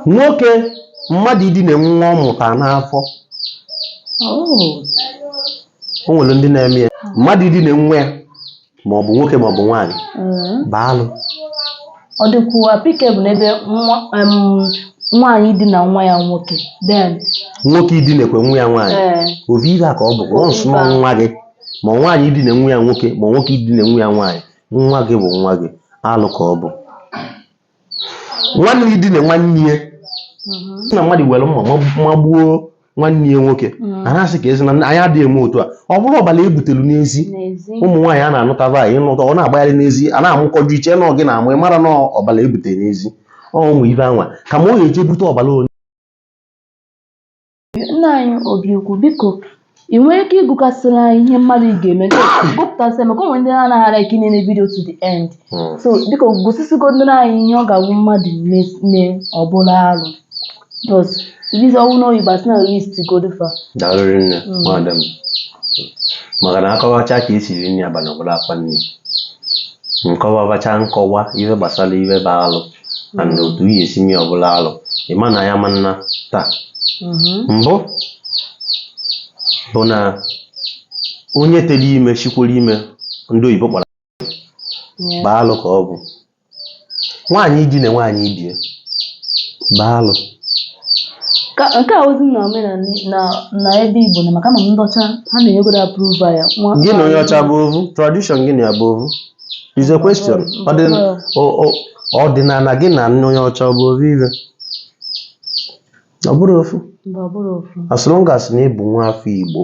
nwoke mmadụ idina nwa ọ mụta n'afọ o nwere ndị na-eme ya mmadụ idina nwa ya ma ọ bụ nwoke ma ọ bụ nwaanyị bụ alụ ọ dịkwu applicable n'ebe nwa- em, nwaanyị idina nwa ya nwoke then nwoke idinekwe nwa ya nwaanyị ee ovu ive ka ọ bụ once na ọ nwa gị ma nwaanyị idina nwa ya nwoke ma nwoke idina nwa ya nwaanyị nwa gị bụ nwa gị alụ ka ọ bụ nwanne idine nwanne ya na mmadụ were mma ma- magbuo nwanne ya nwoke a na-asị ka ezi na anyị adịghị eme otu a ọ bụrụ ọbara e butelu n'ezi n'ezi ụmụ nwaanyị a na-anụtava onye ị nụta ọ na-agbagharị n'ezi a na-amụkọju i chee na ọ gị na-amụ ị mara na ọbara e bute n'ezi ọ ụmụ ive anwa ka ma ọ ga-eje bute ọbara onye Nna anyị Obiukwu biko ị nwere ike ịgụkasịrị anyị ihe mmadụ ga-eme gụpụtasịa maka o nwe ndị na-anaghị ara ike na-ele video to the end Hmm. so biko gụsịsịgodoro anyị ihe ọ ga-awụ mmadụ me- mee ọ bụrụ arụ because video ọnwụ na oyibo asị na list godu fa daalụrị nne Mm. nwaada m maka na a kọwacha ka e si ri nri abalị ọbụla akwa nri nkọwabacha nkọwa ihe gbasara ihe bụ alụ na na otu ihe e si mee ọ bụlụ alụ ị ma na ya ma nna taa mbụ bụ na onye tụlụ ime sikwolu ime ndị oyibo kpọrọ bụ alụ ka ọ bụ nwaanyị idina nwaanyị ibie bụ alụ Ka nke a ozi na omenala na na ebe Igbo na maka ama m ndị ọcha ha na-enyegodo approve ya. Nwa- gị na onye ọcha bụ ovu tradition gị na ya bụ ovu is a question Ọ dị- ọ- ọ- ọdịnala gị na nke onye ọcha ọ bụ ofu ife ọ bụrọ ofu Mba, ọ bụrọ ofu. as long as na ị bụ nwa afọ Igbo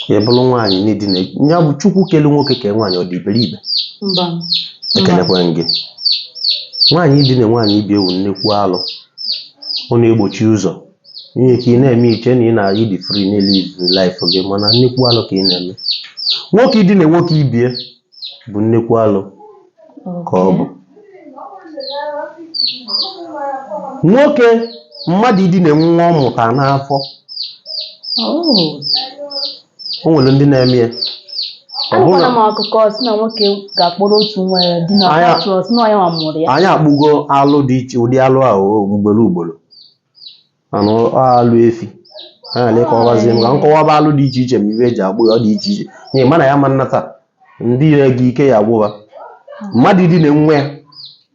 i buru nwaanyị na-edina ya bụ Chukwu kelu nwoke kee nwaanyị ọ dị iberibe Mba. ekelekwa m gị nwaanyị idina nwaanyị ibie wụ nnekwu alụ ọ na-egbochi ụzọ nwere ike ị na-eme i chee na ị na-adị free na-elive life gị mana nnekwu alụ ka ị na-eme nwoke idina nwoke ibie bụ nnekwu alụ ka ọ bụ nwoke mmadụ idina nwa ọ mụta n'afọ o nwere ndị na-eme ya Ọ bụrụ anụkwana na- m akụkọ sị na nwoke ga-akpọrọ otu nwa ya dina Anya- pụta sị na onye nwa mụrụ ya anyị akpụgo alụ dị iche ụdị alụ ahụ ugboro ugboro mana ọ alụ efi a na-ele ka ọbazie m ka m kọwaba alụ dị iche iche ma ive e ji akpụ ya ọ dị iche iche nye mana ya ma nnata ndị ire gị ike ya gwụba mmadụ idine nwa ya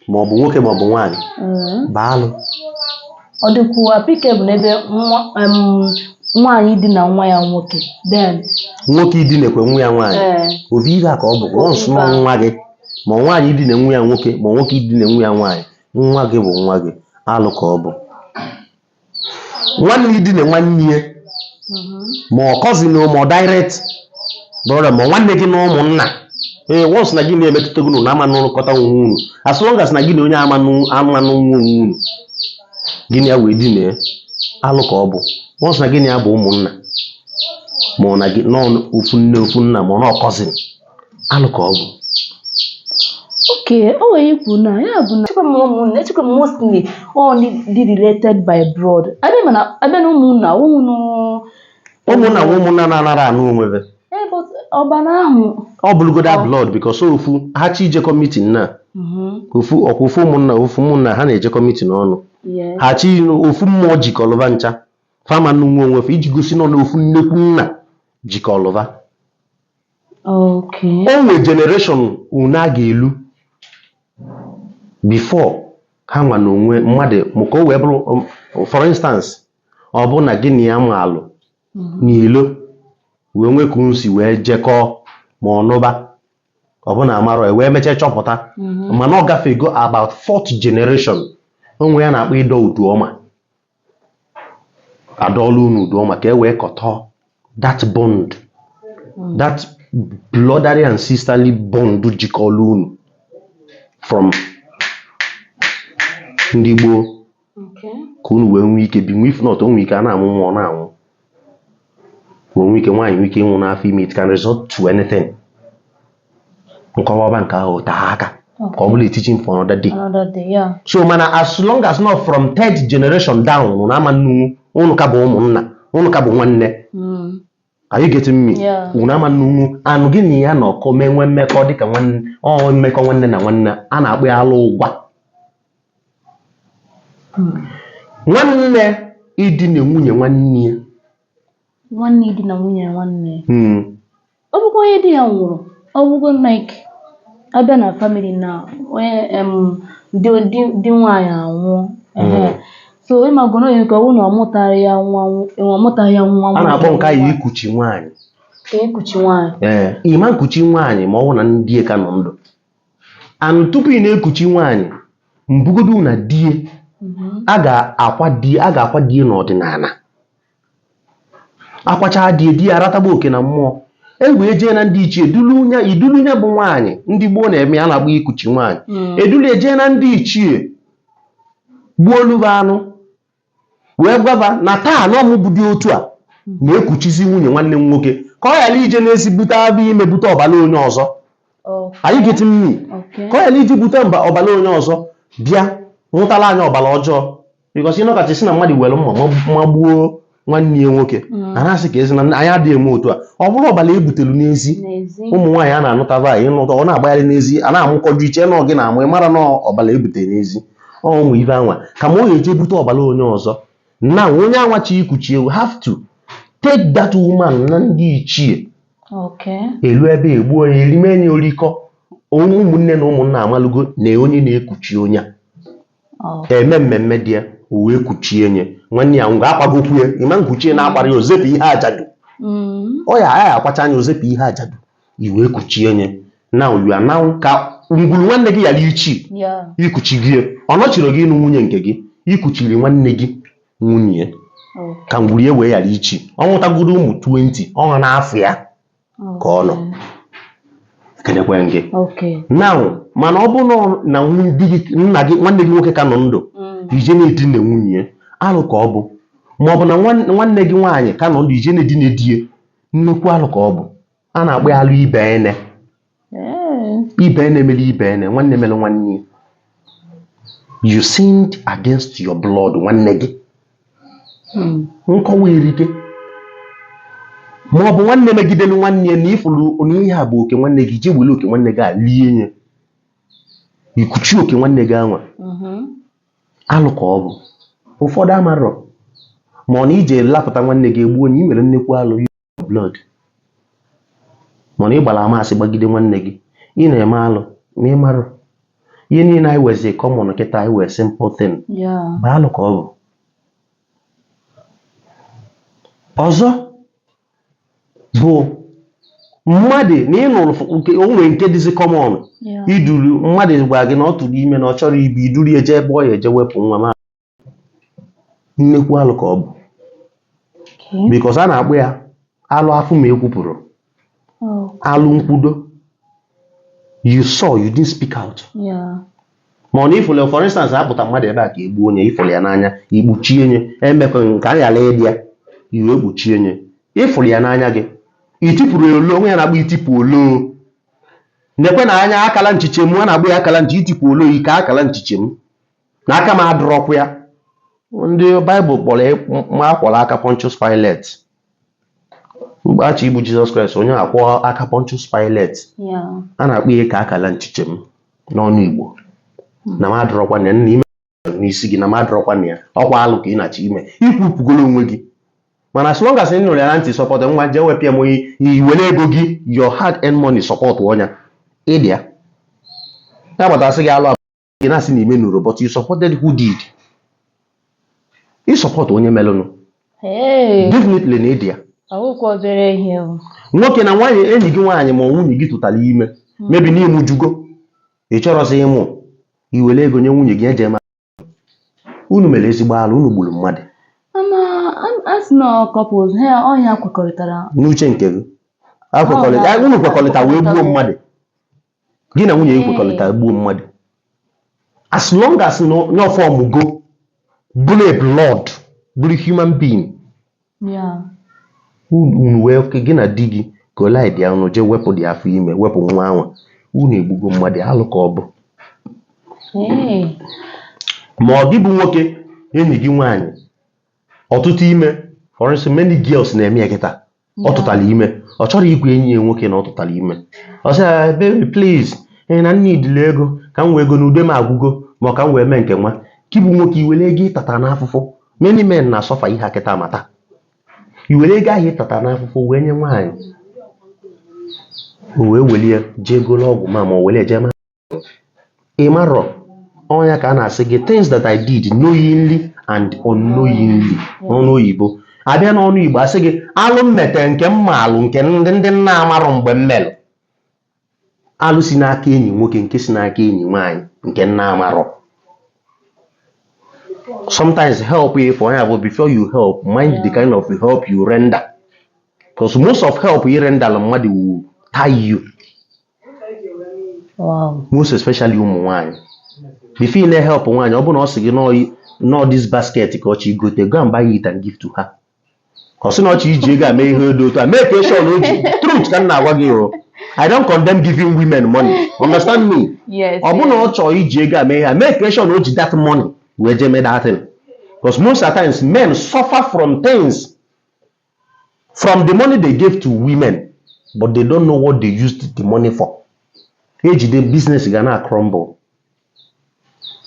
ma ọ bụ nwoke ma ọ bụ nwaanyị Mm. bụ alụ ọ dịkwuo applicable n'ebe nwa em, nwaanyị idina nwa ya nwoke then nwoke idinekwe nwa ya nwaanyị ee ovu ive ka ọ bụ once na ọ nwa gị ma nwaanyị idine nwa ya nwoke ma nwoke idine nwa ya nwaanyị Nwa gị bụ nwa gị, alụ ka ọ bụ. Nwanne idina nwanne ya ma ọ cousin ma ọ direct brother ma nwanne gị na ụmụnna ee once na gị na-emetụta gị na ama n'ụlọkọta onwe unu as long as na gị na onye ama nnụ- ama nnụnwu onwe unu gị na ya wee dina ya alụ ka ọ bụ once na gị na ya bụ ụmụnna ma ọ na gị nọ ofu nne ofu nna ma ọ na ọ cousin alụ ka ọ bụ okay o nwere ikwu na ya bụ na echekwa m ụmụnna echekwa m mostly only dị related by blood abịa mana abịa na ụmụnna ụmụnụ ụmụnna nwa ụmụnna na-anara anụ onwe be ebe ọbara ahụ ọ bụrụgoda blood because ofu ha chi ijekọ meeting na ofu ọkwa ofu ụmụnna ofu ụmụnna ha na-ejekọ meeting ọnụ yes ha chi ofu mmụọ jikọlụ ba ncha fa ama nnụnwu onwe fe iji gosi na ọ na ofu nnekwu nna jikọlụ ba Okay. o nwe generation unu a ga-elu before ha nwa na onwe mmadụ ma ka o wee bụrụ um, for instance ọ bụ na gị na ya maalụ n'ilo wee nwee ka unu si wee jekọọ ma ọnụba ọ bụ na amarọ ya wee mechaa chọpụta mana ọ gafego about fourth generation o nwe ihe a na-akpọ ịdọ udu ọma a dọọlụ unu udu ọma ka e wee kọtọ that bond that brotherly and sisterly bond jikọlụ unu from ndị gboo Okay. ka unu wee nwee ike binwu if not o nwee ike a na-amụ nwa ọ na-anwụ ma o nwe ike nwaanyị nwee ike ịnwụ n'afọ ime it can result to anything m kọwaba nke ahụ taa aka ka ọ bụlụ teaching for another day Another day, yeah. so mana as long as na ọ from third generation down unu ama nnụnwu unu ka bụ ụmụnna unu ka bụ nwanne Mm. are you getting me Yeah. unu ama nnụnwu anụ gị na ya na ọkọ mee nwee mmekọ dịka nwanne ọ mmekọ nwanne na nwanne a na-akpọ ya alụ ụgwa nwanne idina nwunye nwanne ya nwanne idina nwunye nwanne ya hmm. ọ bụkwa onye di ya nwụrụ ọ bụgo like a bịa na family na onye di nwaanyị anwụọ hmm. so ịmagoro onye nke ọnwụ na ọ mụtaghị ya nwa ọ mụtaghị ya nwa a na-akpọ nke anyị ikuchi nwaanyị ikuchi nwaanyị ee eh, ị ma nkuchi nwaanyị ma ọ bụ na die ka nọ ndụ and tupu ị na-ekuchi nwaanyị mbụ godu na die a ga-akwa die a ga-akwa die n'ọdịnala akwachaa die die aratagba oke na mmụọ e wee jee na ndị ichie dulu nya e dulu nya bụ nwaanyị ndị gboo na-eme a na-agba ikuchi nwaanyị e dulu ya jee na ndị ichie gbuolu ba anụ wee gwaba na taa na ọmụbụdị otu a na-ekuchizi nwunye nwanne m nwoke ka ọ ghara ije n'ezi bute afọ ime bute ọbara onye ọzọ are you getting me ka ọ ghara ije bute mba ọbara onye ọzọ bịa nwụtara anyị ọbara ọjọọ because ị nọkata a sị na mmadụ were mma ma- ma gbuo nwanne ya nwoke a na-asị ka ezi na anyị adịghị eme otu a ọ bụrụ ọbara e butere n'ezi n'ezi ụmụ nwaanyị a na-anụtaba anyị ị nụta ọ na-agbagharị n'ezi a na-amụkọju i chee na ọ gị na-amụ ị marọ na ọbara e butere n'ezi ọ ụmụ ive anwa kama ọ ga-eje bute ọbara onye ọzọ na onye anwa chọ ikuchi e you have to take that woman na ndị ichie Okay. e luo ebe a egbuo ya erime ya orikọ ụmụnne na ụmụnna amalugo na onye na-ekuchi onye a Oh. e mee mmemme dị ya o wee kuchie nye nwanne ya ngwa akwagokwu ya ị ma-ekuchi e na-akwarọ ya o zepụ ihe ajadu Mm. ọ ya ya akwacha nya o zepụ ihe ajadu i wee kuchie nye now you are now ka ngwuru nwanne gị ghara ichi Yeah. i kuchie ọ nọchirọ gị ịnụ nwunye nke gị i kuchiri nwanne gị nwunye Oh. ka ngwuru ya wee ghara ichi ọ nwụtagoro ụmụ 20 ọ nọ n'afa ya ka ọ nọ kedekwe gị Okay. now mana ọ bụrụ na ọ- na nwunye di gị nna gị nwanne gị nwoke ka nọ ndụ Mm. i je na-edina nwunye ya, alụ ka ọ bụ ma ọ bụ na nwan- nwanne gị nwaanyị ka nọ ndụ i je na-edina di ya nnukwu alụ ka ọ bụ a na-akpọ ya alụ ibenne ibenne mere ibenne nwanne mere nwanne ya you sinned against your blood nwanne gị hmm. nkọwa e erika ma ọ bụ nwanne megidere nwanne ya na ị fụrụ na ihe a bụ oke nwanne gị i jee were oke nwanne gị e lie ya i kuchi oke nwanne gị anwa mm-hmm. alụ ka ọ bụ ụfọdụ amarọ ma ọ na i je lapụta nwanne gị e gbuo nye i mere nnekwu alụ blood ma na ị gbara ama asị gbagide nwanne gị ị na-eme alụ na ị marọ ihe niile anyị wezi common kịta anyị wee simple thing bụ alụ ka ọ bụ ọzọ bụ mmadụ na ị nụrụ f- nke o nwere nke dịzi common Yeah. i duru mmadụ gwara gị na ọ tụrụ ime na ọ chọrọ ibi i duru ya jee ebe ọ ya eje wepụ nwa ma nnekwu alụ ka ọ bụ Okay. because a na-akpọ ya alụ afụ ma ekwupụrọ Oh. alụ nkwudo you saw you didn't speak out Yeah. ma ọ na ị fụlụ for instance a kpụta mmadụ ebe a ka e gbuo nye ị fụlụ ya n'anya i kpuchie nye emekwa nke a ghara ịdị ya i wee kpuchie nye ị fụlụ ya n'anya gị i tipụrọ ya olo o nwe ya a na-akpọ itipụ olo nekwenụ anya akala nchiche m a na-akpọ ya akala nchi itipụ olo ike akala nchiche m na aka m adịrọkwa ya ndị Bible kpọrọ ya ma akwọrọ aka Pontius Pilate mgbe a chọ igbu jizọs kraịst onye a kwọọ aka Pontius Pilate Yeah. a na-akpọ ihe ka akala nchiche m n'ọnụ igbo na m adịrọkwa na ya na ị me n'isi gị na m adịrọkwa na ya ọkwa alụ ka ị na-achọ ime i kwupụgoro onwe gị mana as long as ị nụrụ ya na ntị support nwa jee wepịa m onye i were ego gị your hard earned money support ọ nya ị dị ya a gbata a sị gị alụ ị na-asị na i menụrọ but you supported who did ị support onye melụnụ Hey, definitely na ị dị ya ọwụkwa obere ihe o. nwoke na nwaanyị enyi gị nwaanyị ma ọ nwunye gị tụtara ime maybe na ụmụ ejugo ị chọrọzi ịmụ i were ego nye nwunye gị eje ma unu mere ezigbo alụ unu gburu mmadụ Ama a- a sị na couples ha ọnya kwekọrịtara n'uche nke gị akwekọrịta Ọ, unu kwekọrịta wee gbuo mmadụ gị na nwunye gị kwekọrịta gbuo mmadụ as long as na ọ formụgo bụrụ blood bụrụ human being ya unu unu wee ke gị na di gị kọlịta unu jee wepụ the afọ ime wepụ nwa ahụ unu egbugo mmadụ alụ ka ọ bụ ee ma ọ gị bụ nwoke enyi gị nwaanyị ọ tụta ime for instance many girls na-eme ya kịta ọ tụtara ime ọ chọrọ ịgwa enyi ya nwoke na ọ tụtara ime ọ sị ya baby please ee na m needili ego ka m wee go na ude m agwụgo ma ọ ka m wee mee nke nwa gị bụ nwoke i were ego ị tata n'afụfụ many men na-asuffer ihe a kịta mata i were ego ahụ ị tata n'afụfụ wee nye nwaanyị o wee welie jee golo ọgwụ ma ma o were jee ma ị marọ ọ nya ka a na-asị gị things that I did knowingly and unknowingly n'ọnụ oyibo a bịa n'ọnụ igbo a sị gị alụ m mete nke m ma alụ nke ndị ndị m na-amarọ mgbe m melụ alụ si n'aka enyi nwoke nke si n'aka enyi nwaanyị nke m na-amarọ sometimes help if onye abụ before you help mind the kind of help you render because most of help you render mmadụ will tie you most especially ụmụ nwaanyị before ị na-ehelp nwaanyị ọ bụrụ na ọ sị gị na ọ this basket ka ọ chọ igote go and buy it and give to her ọ sị na ọ chọ iji ego a mee ihe dị otu a make sure na o ji truth ka m na-agwa gị o I don't condemn giving women money understand me Yes. ọ bụrụ na ọ chọọ iji ego a mee ihe a make sure na o ji that money wee jee mee that thing because most of the times men suffer from things from the money they gave to women but they don't know what they used the money for e jide business gị a na-acrumble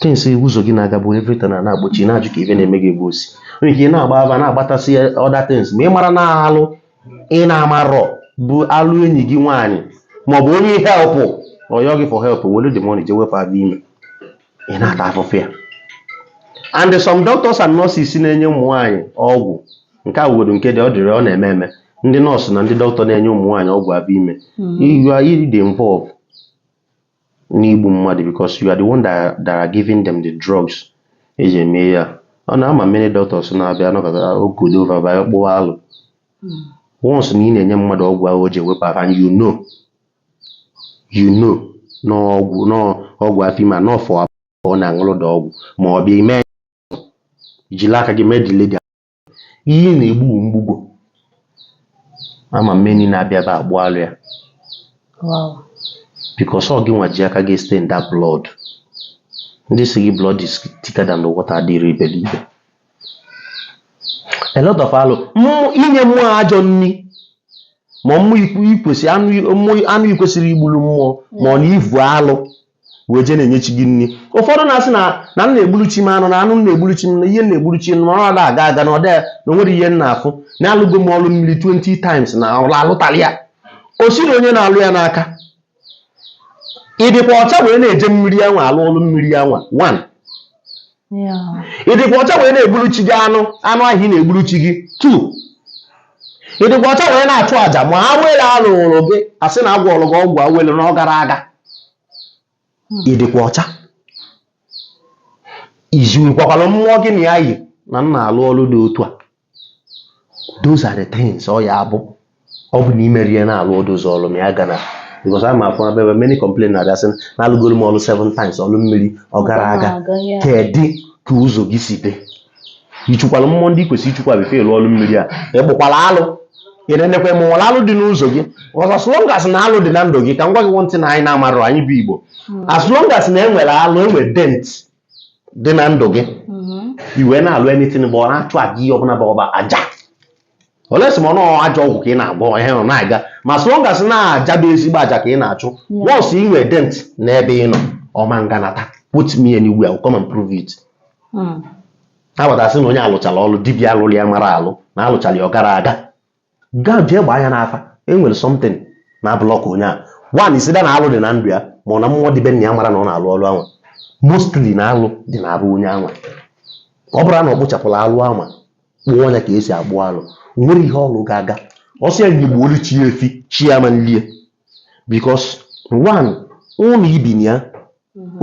things ụzọ gị na-agabu everything na na-agbochi na-ajụ ka ife na-eme gị ebe o si nwere ike ị na-agba ava na-agbatasị other things ma ị mara na alụ ị na-amarọ bụ alụ enyi gị nwaanyị maọbụ onye helpụ ọ yọọ gị for help were the money jee wepụ afọ ime ị na-ata afụfụ ya and some doctors and nurses na-enye ụmụ nwaanyị ọgwụ nke a wụgodo nke dị ọ dịrị ọ na-eme eme ndị nọọsụ na ndị dọkịta na-enye ụmụ nwaanyị ọgwụ abịa ime you are you dey involve n'igbu mmadụ because you are the one that, that are giving them the drugs eji eme ya ọ na ama m many doctors na-abịa anọkọta ogodo over bịa kpụwa alụ once na ị na-enye mmadụ ọgwụ ahụ o ji ewepụ afọ and you know you know na ọgwụ na ọgwụ afọ ime a na ọfọ ọ na-aṅụrụ da ọgwụ ma ọ bụ ime jiri aka gị mee dile ga ihe na-egbu mgbugbo ama m many na-abịa ebe a akpụ alụ ya because ọ gị nwa ji aka gị stain that blood ndị sị gị blood is thicker than the water adịrị iberibe a lot of alụ Mmụ- inye mmụọ ajọ nni ma mmụọ ikwu- ikwesị anụ mmụọ- anụ ikwesịrị igburu mmụọ mana i vu alụ wee jee na-enye chi gị nri ụfọdụ na-asị na na m na-egburu chi m anụ na anụ m na-egburu chi m na ihe m na-egburu chi m na ọ na aga aga na ọ dị na o nwere ihe m na-afụ na alụgo m ọlụ mmiri 20 times na ọlụ alụtarọ ya o si na onye na-alụ ya n'aka ị dịkwa ọcha wee na-eje mmiri anwa alụ ọlụ mmiri anwa one ya ị dịkwa ọcha wee na-egburu chi gị anụ anụ ahụ ị na-egburu chi gị two ị dịkwa ọcha wee na-achụ àjà ma awele a lụrụ gị a sị na a gwọọrọ gị ọgwụ awele na ọ garọ aga ị dịkwa ọcha i zikwakwara mmụọ gị na ya yi na ị na-alụ ọlụ dị otu a those are the things ọ ya abụ ọ bụ na imeri ya na-alụ ọdụ ụzọ ọlụ ma ya gana because ama afọ abịa ebe many complain na abịa sị na alụgoro m ọlụ seven times ọlụ mmiri ọ garọ aga Aga ya. kedụ ka ụzọ gị si dị ichukwala mmụọ ndị kwesịrị ichukwa before ịlụ ọlụ mmiri a ị kpụkwala alụ ị na-enekwa ma e nwere alụ dị n'ụzọ gị because as long as na alụ dị na ndụ gị ka m gwa gị one thing anyị na-amarọ anyị bụ igbo as long as na enwere alụ enwere dent dị na ndụ gị mm-hmm. i wee na-alụ anything bụ ọ na-achụ aja ihe ọbụla bụ ọ bụ aja unless ma ọ na ajọ ọgwụ ka ị na-agwọ ihe nọ na-aga ma as long as na aja bụ ezigbo aja ka ị na-achụ once ị nwe dent n'ebe ị nọ ọ ma nganata put me anywhere come and prove it mm. a bata sị na onye a lụchara ọlụ dibịa lụrụ ya mara alụ na a lụchara ya ọ garọ aga gaa jee gbaa ya n'afa e nwere something na-block onye a one is either na alụ dị na ndụ ya ma ọ na mmụọ dị be nna ya amarọ na ọ na-alụ ọlụ anwa mostly na alụ dị na arụ onye anwa ọ bụrụ na ọ kpụchapụrọ alụ anwa kpụọ ya ka e si akpụ alụ o nwerọ ihe ọlụ ga-aga ọ sọ ya nya gbuolu chi ya efi chi ya ama nlie because one ụnọ i bi na ya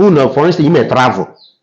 ụnọ for instance ime travel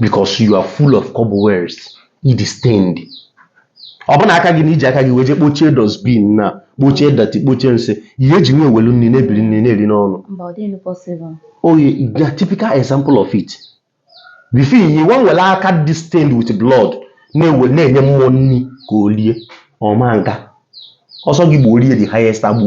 because you are full of cobwebs ị dị stained ọ bụ na aka gị na iji aka gị wee jee kpochie dustbin na kpochie dirty kpochie nsị ihe eji wee welu nni na-ebiri nni na-eri n'ọnụ Mba, ọ dịghị possible. ọ ya na typical example of it before ị nwaa were aka dị stained with blood na-ewe na-enye mmụọ nni ka o lie ọma nka ọ sọ gị gbuo rie the highest agbụ